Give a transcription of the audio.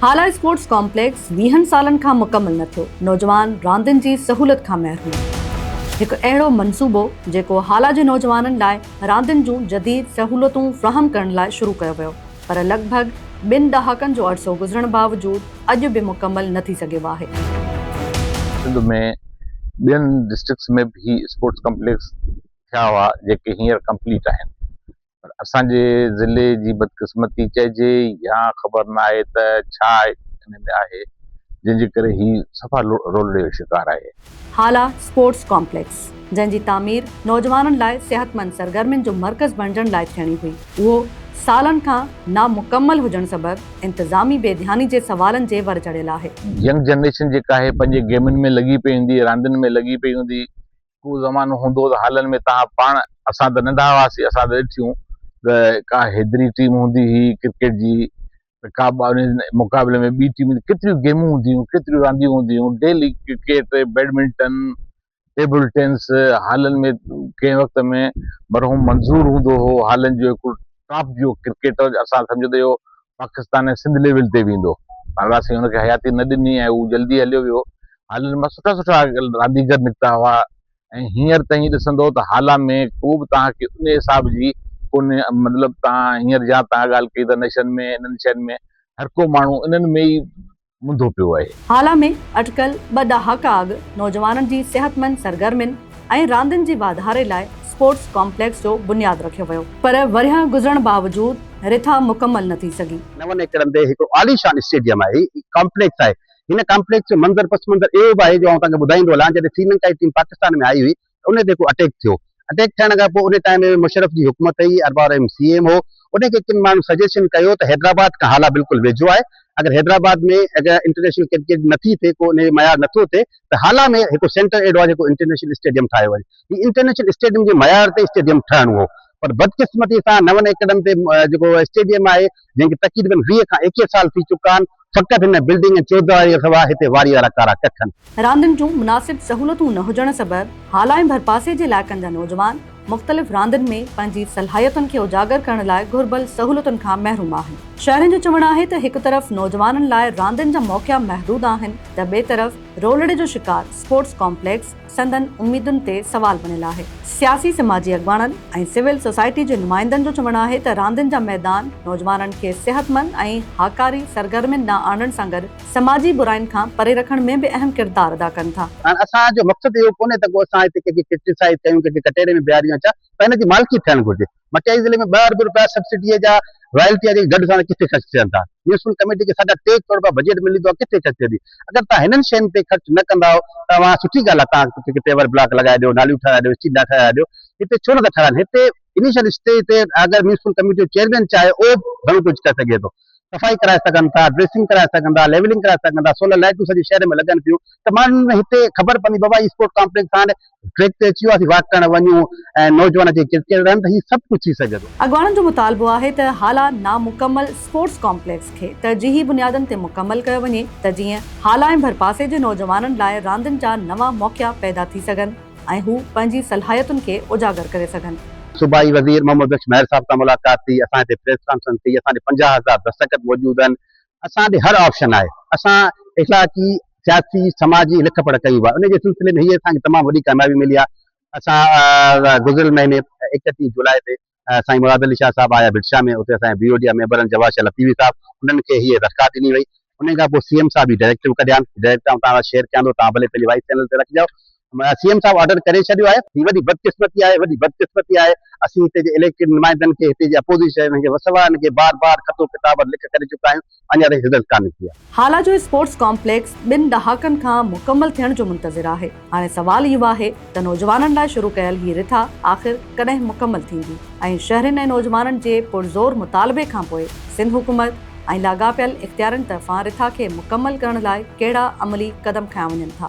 Hala sports complex ويهن سالن کان مڪمل نه ٿيو، نوجوان راندين جي سهولت کان محروم، هڪ اهڙو منصوبو جيڪو هالا جي نوجوانن لاء راندين جون جديد سهولتون فراهم ڪرڻ لاء شروع ڪيو ويو پر لڳ ڀڳ ٻن ڏهاڪن جو عرصو گذرڻ باوجود اڄ به مڪمل نه ٿي سگهيو آهي. سنڌ ۾ ٻين ڊسٽرڪٽس ۾ به هي اسپورٽس ڪامپليڪس ٿيا هئا جيڪي هينئر ڪمپليٽ آهن پر اسان جي ضلعي جي بدقسمتي چئجي يا خبر نه آهي ته ڇا انهن ۾ آهي جنهن جي ڪري هي صفا رولڙي جو شڪار آهي. هالا اسپورٽس ڪامپليڪس جنهن جي تعمير نوجوانن لاء صحتمند سرگرمين جو مرڪز بڻجڻ لاء ٿيڻي هئي اهو سالن کان نامڪمل هجڻ سبب انتظامي بي ڌياني جي سوالن جي ور چڙهيل آهي. ينگ جنريشن جيڪا آهي پنهنجي گيمن ۾ لڳي پئي هوندي راندين ۾ لڳي پئي هوندي ڪو زمانو هوندو ته هالن ۾ توهان پاڻ اسان ته ننڍا هئاسين اسان ته ڏٺيون ته ڪا حيدري ٽيم هوندي هئي ڪرڪيٽ جي ته ڪا مقابلي ۾ ٻي ٽيم هوندي ڪيتريون گيمون هونديون هيون ڪيتريون رانديون هونديون هيون daily cricket badminton table tennis هالن ۾ ڪنهن وقت ۾ مرحوم منظور هوندو هو هالن جو هڪڙو ٽاپ جو ڪرڪيٽر اسان سمجهندي هو پاڪستان ۽ سنڌ ليول تي ويندو پر اسين ان کي حياتي نه ڏني ۽ هو جلدي هليو ويو هالن مان سٺا سٺا رانديگر نڪتا هئا ۽ هينئر ته ائين ڏسندو ته هالان ۾ ڪو به توهان کي ان حساب جي ڪونهي مطلب توهان هينئر جيان توهان ڳالهه ڪئي ته نشن ۾ انهن شين ۾ هر ڪو ماڻهو انهن ۾ ئي منڌو پيو آهي. هالا ۾ اٽڪل ٻه ڏهاڪا اڳ نوجوانن جي صحتمند سرگرمين ۽ راندين جي واڌاري لاء اسپورٽس ڪامپليڪس جو بنياد رکيو ويو پر ورهيه گذرڻ باوجود رٿا مڪمل نه ٿي سگهي. نون ايڪڙن تي هڪ عاليشان اسٽيڊيم آهي، ڪامپليڪس آهي. هن ڪامپليڪس جو منظر پس منظر اهو به آهي جو آئون توهان کي ٻڌائيندو هلان جڏهن سريلنڪا جي ٽيم پاڪستان ۾ آئي هئي ان تي ڪو اٽيڪ ٿيو، اٽيڪ ٿيڻ کان پوء ان ٽائيم ۾ مشرف جي حڪومت هئي، ارباب رحيم سي ايم هو، ان کي ڪن ماڻهن سجيشن ڪيو ته حيدرآباد کان هالا بلڪل ويجهو آهي، اگر حيدرآباد ۾ اگر انٽرنيشنل ڪرڪيٽ نه ٿي ٿئي ڪو ان جو معيار نه ٿو ٿئي ته هالا ۾ هڪ سينٽر اهڙو آهي جيڪو انٽرنيشنل اسٽيڊيم ٺاهيو وڃي، هي انٽرنيشنل اسٽيڊيم جي معيار تي اسٽيڊيم ٺهڻو هو، پر بدقسمتي سان نون ايڪڙن تي جيڪو اسٽيڊيم آهي جنهن کي تقريبن ويهه کان ايڪيهه سال ٿي چڪا آهن، فقط هن بلڊنگ ۽ چوڌاري سوا هتي واري وارا ڪارا ڪک آهن. راندين جون مناسب سهولتون نه هجڻ سبب هالائين ڀرپاسي جي علائقن جا نوجوان مختلف راندين ۾ پنهنجي صلاحيتن کي اجاگر ڪرڻ لاء گهربل سهولتن کان محروم آهن. شهرين جو چوڻ آهي ته هڪ طرف نوجوانن لاء راندين جا موقعا محدود آهن ته ٻئي طرف رولڙي جو شڪار اسپورٽس ڪامپليڪس، سندن اميدن تي سوال بڻيل آهي. سياسي سماجي اڳواڻن ۽ سول سوسائٽي جي نمائندن جو چوڻ آهي ته راندين جا ميدان نوجوانن کي صحتمند ۽ هاڪاري سرگرمين ڏانهن آڻڻ سان گڏ سماجي براين کان پري رکڻ ۾ به اهم ڪردار ادا ڪن ٿا. هاڻ اسان جو مقصد اهو ڪونهي ته ڪو اسان هتي ڪنهن کي ڪرٽيسائيز ڪيون ڪنهن کي ڪٽهڙي ۾ بيهاريون يا ڇا پر هن جي مالڪي ٿيڻ گهرجي. مٽياري ضلعي ۾ ٻه ارب رپيا سبسڊيء جا رائلٽيء جي ڍڍ ساڻي ڪٿي خرچ ٿين ٿا؟ ميونسپل ڪميٽيء کي ساڍا ٽي ڪروڙ رپيا بجيٽ ملي ٿو اها ڪٿي خرچ ٿئي ٿي؟ اگر توهان هنن شين تي خرچ نه ڪندائو ته اوهان سٺي ڳالهه آهي توهان ڪٿي ڪٿي پيور بلاڪ لڳائي ڏيو ناليون ٺهرائي ڏيو اسٽريٽ لائٽ ٺهرائي ڏيو هتي ڇو نه ٿا ٺهرائن هتي انيشل اسٽيج تي اگر ميونسپل ڪميٽيء جو چيئرمين چاهي اهو به گهڻو ڪجهه ڪري سگهي ٿو. صفائي ڪرائي سگهن ٿا، ڊريسنگ ڪرائي سگهن ٿا، ليولنگ ڪرائي سگهن ٿا، سولر لائيٽون سڄي شهر ۾ لڳن ٿيون ته ماڻهن ۾ هتي خبر پوندي بابا هي اسپورٽ ڪامپليڪس هاڻ ٽريڪ تي اچي ويو آهي اسين واڪ ڪرڻ وڃون ۽ نوجوان اچي ڪرڪيٽ رهن ته هي سڀ ڪجهه ٿي سگهي ٿو. اڳواڻن جو مطالبو آهي ته هالا نامڪمل اسپورٽس ڪامپليڪس کي ترجيحي بنيادن تي مڪمل ڪيو وڃي ته جيئن هالا ۽ ڀرپاسي جي نوجوانن لاء راندين جا نوان موقعا پيدا ٿي سگهن. ۽ هو پنهنجي صلاحيتن کي اجاگر ڪري سگهن. صوبائي وزير محمد بخش مهر صاحب سان ملاقات ٿي، اسان هتي پريس ڪانفرنس ٿي، اسان ڏي پنجاهه هزار دستخط موجود آهن، اسان ڏي هر آپشن آهي، اسان اخلاقي، سياسي، سماجي لک پڙهه ڪيون به آهن، ان جي سلسلي ۾ هيء اسان کي تمام وڏي ڪاميابي ملي آهي، اسان گذريل مهيني ايڪٽيهه جولاء تي سائين مراد علي شاهه صاحب آيا ڀٽ شاهه ۾ اتي اسان جي بيورو جي ميمبرن جواهر شاهه لطيفي صاحب انهن کي هيء درخواست ڏني وئي انهي کان پوء سي ايم صاحب هي ڊائريڪٽر به ڪڍيان ڊائريڪٽر آئون توهان سان شيئر ڪيان ٿو توهان ڀلي پنهنجي وائس چينل تي رکجو سي ايم صاحب آرڊر ڪري ڇڏيو آهي. هي وڏي بدقسمتي آهي وڏي بدقسمتي آهي اسين هتي جي اليڪٽيڊ نمائندن کي هتي جي اپوزيشن جي وسوارن کي بار بار خط و ڪتابت لک ڪري چڪا آهيون. اڃا تائين رزلٽ ڪا نڪتي آهي. هالا جو اسپورٽس ڪامپليڪس ٻن ڏهاڪن کان مڪمل ٿيڻ جو منتظر آهي، هاڻي سوال اهو آهي ته نوجوانن لاء شروع ڪيل هي رٿا آخر ڪڏهن مڪمل ٿيندي ۽ شهرين ۽ نوجوانن جي پرزور مطالبي کانپوء سنڌ حڪومت ۽ لاڳاپيل اختيارين طرفان رٿا کي مڪمل ڪرڻ لاء ڪهڙا عملي قدم کنيا وڃن ٿا.